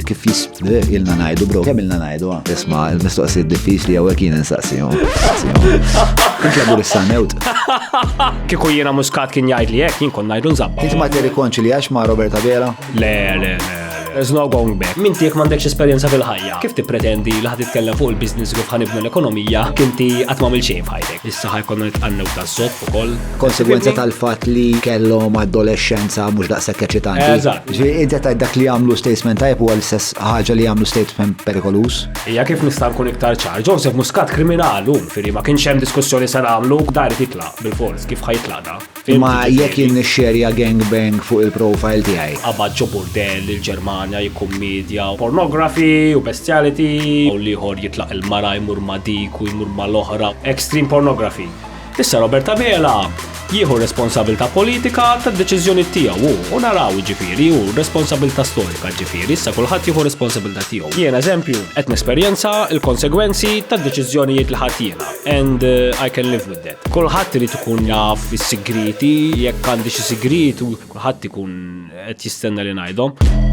kif jisbdeq ilna najdu, bro, kemm ilna najdu, ah. isma, il-mistoqsijiet diffiċli għawek jien nsaqsijom. Nitlabu l-sanewt. Kiku jiena muskat kien jgħid li jek, jien kon najdu nżabba. Inti ma tiri konċi li għax ma Roberta Vera? Le, le, le. There's no going back. Min tiek m'għandekx esperjenza fil-ħajja. Kif tippretendi li ħad titkellem fuq il-business kif ħanibnu l-ekonomija, kinti qatt ma' xejn f'ħajtek. Issa ħa jkollna nitqannew taż-żopp ukoll. Konsegwenza tal-fatt li kellhom adolescenza mhux daqshekk eċitanti. Eżatt. Ġi inti tajt dak li jagħmlu statesman tajb huwa l-istess ħaġa li jagħmlu statesman perikoluż. Hija kif nista' nkun iktar ċar, Joseph Muscat kriminal hu, firri ma kienx hemm diskussjoni se nagħmlu, dar irid jitlaq bil-fors, kif ħa jitlaq da? Imma jekk jien nixxerja gangbang fuq il-profile tiegħi. Qabad ġo burdell il-Ġermanja jikkummedja pornography u bestiality u l-ieħor jitlaq il-mara jmur ma' dik u jmur mal-oħra, extreme pornography. Issa Robert Abela jieħu r-responsabilità politika tad-deċiżjonijiet tiegħu hu u naraw jiġifieri hu r-responsabilità storika jiġifieri issa kulħadd jieħu r-responsabilità tiegħu. Jien eżempju qed nesperjenza l-konsegwenzi tad-deċiżjonijiet li ħadt jiena and I can live with them. Kulħadd irid ikun jaf is-sigrieti, jekk għandi xi sigriet u kulħadd ikun qed jistenna li ngħidhom.